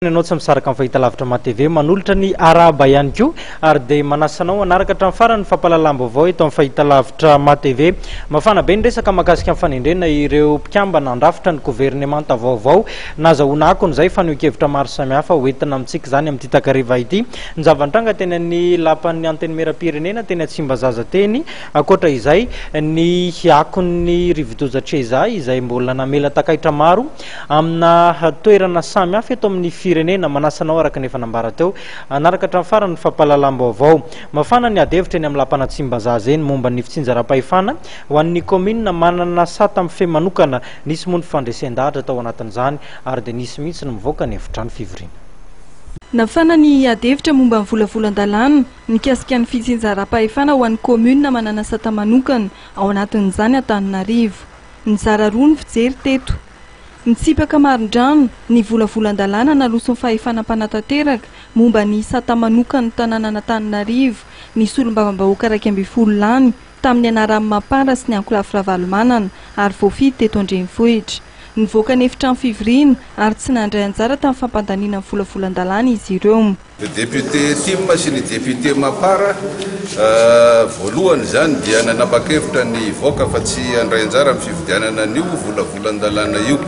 ianao tsy misaraka amin'ny fahitalavitra ma TV manolotra ny arahaba ihany koa ary dia manasanao hanaraka hatramin'ny farany ny fampahalalam-baovao eto amin'ny fahitalavitra ma TV mafana be ny resaka mahakasika ny fanendrena ireo mpikambana handrafitra ny governemanta vaovao Nazahoana akony izay fanehoan-kevitra maro samihafa ho entina amintsika izany amin'ity takariva ity. Ny zava-nitranga teny amin'ny Lapan'ny Antenimieram-pirenena teny Tsimbazaza teny. Ankoatra izay, ny akon'ny rivodoza Cheza izay mbola namela takaitra maro amina toerana samihafa eto amin'ny firenena. Manasa anao araka ny efa nambara teo hanaraka hatramin'ny farany ny fampahalalam-baovao. Mafana ny adihevitra eny amin'ny Lapan'Antsimbazaza eny momba ny fitsinjaram-pahefana ho an'ny kaominina manana sata mifehy manokana Nisy moa ny fandresen-dahatra tao anatin'izany ary dia nisy mihitsy ny mivoaka ny efitrano fivoriana. Nafana ny adihevitra momba ny volavolan-dalàna mikasika ny fitsinjaram-pahefana ho an'ny kaominina manana sata manokana, ao anatin'izany Antananarivo. Nizara roa ny fijery teto. Nitsipaka marindrano ny volavolan-dalàna naloson'ny fahefana mpanatanteraka momba ny sata manokan'ny tanànan'Antananarivo ny solombavambahoaka iraika ambin'ny folo lany tamin'ny anaran'i Mampara sy ny Ankolafy Ravalomanana ary voafidy teto an-drenivohitra. Nivoaka ny efitrano fivoriana ary tsy nandray anjara tamin'ny fampandaniana ny volavolan-dalàna izy ireo. Ny depiote Tim sy ny depiote Mampara voalohany izany dia nanapa-kevitra ny hivoaka fa tsy handray anjara amin'ny fividianana an'io volavolan-dalàna io.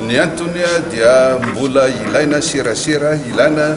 Ny antony dia mbola ilaina serasera ilana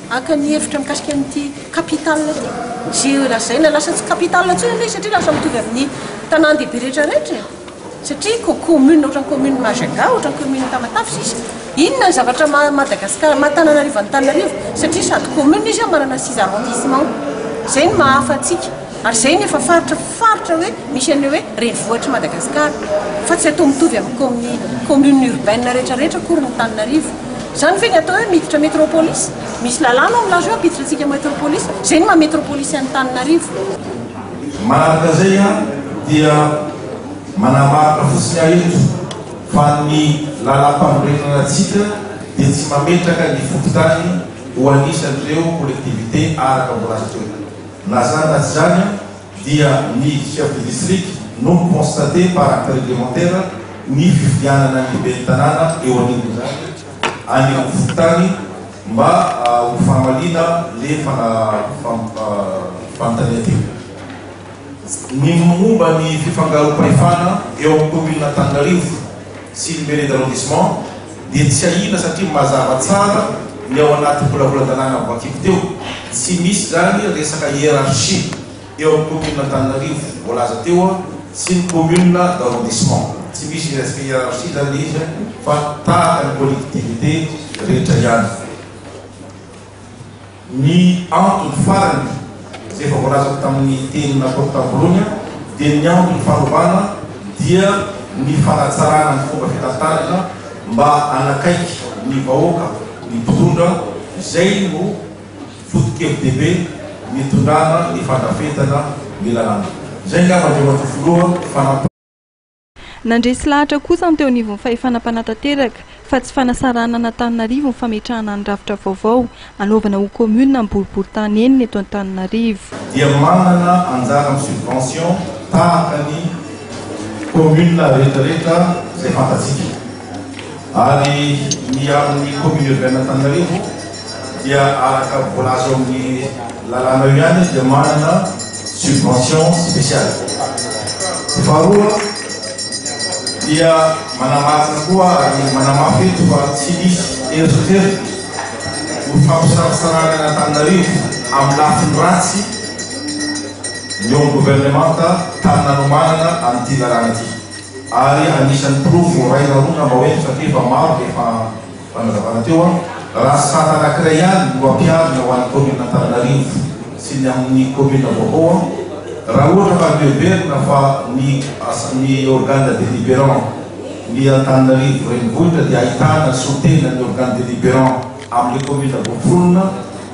Haka ny hevitra mikasika an'ity capital ity, izay lazaina lasa tsy capital intsony aloha izy satria lasa mitovy amin'ny tanàn-dehibe rehetra rehetra e! satria ko commune ohatran'ny commune Majunga, ohatran'ny commune Tamatave sisa, inona ny zavatra maha Madagascar, maha Tananarivo an'Antananarivo satria sady commune izy manana six arrondissements, izay no maha hafa antsika. Ary izay no efa faritra faritra hoe misy an'io hoe renivohitr'i Madagasikara, fa tsy atao mitovy amin'ny kaomi communes urbaines rehetra rehetra akory ny Antananarivo. Izany ve ny atao hoe miditra metropolis? Misy lalàna ao milaza hoe hampiditra antsika metropolis, izay no maha metropolis an'i Antananarivo. Manaraka izay aho dia manamarina fotsiny aho eto fa ny lalàmpanorenana antsika dia tsy mametraka ny fokontany ho anisan'ireo collectivités araka mbola azo toerana. Lazany azy izany dia ny chef de district no mi-constater par acte réglementaire ny fifidianana ny ben'ny tanàna eo anivon'izany any amin'ny fokontany mba ho fahamaliana le fanontania teo. Ny momba ny fifangaroam-pahefana eo amin'ny kaominina Antananarivo. sy Libellé d'arrondissement dia tsiahina satria mazava tsara ny ao anaty volavolan-dalàna voakibo teo. Tsy misy izany resaka hiérarchie eo amin'ny commune Antananarivo voalaza teo an, sy ny commune d'arrondissement. Tsy misy resaka hiérarchie izany izy an, fa tahaka ny collectivité rehetra ihany. Ny antony farany, izay efa voalazako tamin'ny teny nataoko tam-boalohany aho, dia ny antony fanovana dia ny fanatsarana ny fomba fitantanana mba hanakaiky ny vahoaka ny mpitondra, izay no foto-kevi-dehibe nitondrana ny fandrafetana ny lalàna. Izay angamba Andriamatoa Filoha, fa. Nandresy lahatra kosa ny teo anivon'ny fahefana mpanatanteraka fa tsy fanasarahana an'Antananarivo ny fametrahana ny rafitra vaovao hanaovana ho commune ny boriboritany enina eto Antananarivo. dia manana anjara amin'ny subvention tahaka ny communes rehetra rehetra izay fantatsika. Ary ny amin'ny commune urbaine Antananarivo dia araka voalaza ao amin'ny lalàna eo ihany izy dia manana subvention spéciale. Faharoa dia manamarina koa ary manamafy eto fa tsy misy eritreritra ho fampisaratsarahana an' Antananarivo amin'ny lafiny ratsy ny eo amin'ny governemanta tany nanomanana an'ity lalàna ity. Ary anisan'ny porofo iray na roa angamba hoe satria efa maro dia efa fanazavana teo an, raha sata anankiray ihany no ampiharina ho an'ny commune Antananarivo sy ny amin'ny commune vaovao an, raha ohatra ka miheverina fa ny ny organe deliberant ny Antananarivo renivohitra dia ahitana sotena ny organe deliberant amin'ilay commune voaforona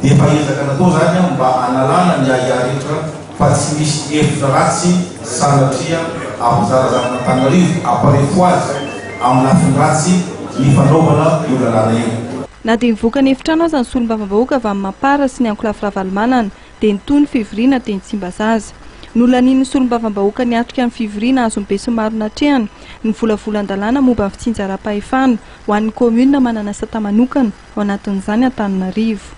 dia efa ezaka natao izany an mba hanalana ny ahiahy rehetra fa tsy misy hevitra ratsy sanatria ampizarazaran'Antananarivo hampalefo azy amin'ny lafiny ratsy ny fanaovana io lalàna io. Na dia nivoaka ny efitrano aza ny solombavambahoaka avy amin'ny Mapar sy ny ankolafy Ravalomanana dia nitohy ny fivoriana teny Tsimbazaza. Nolanian'ny solombavambahoaka niatrika ny fivoriana azon'ny besinimaro natrehana ny volavolan-dalàna momba ny fitsinjaram-pahefana ho an'ny kaominina manana sata manokana, ao anatin'izany Antananarivo.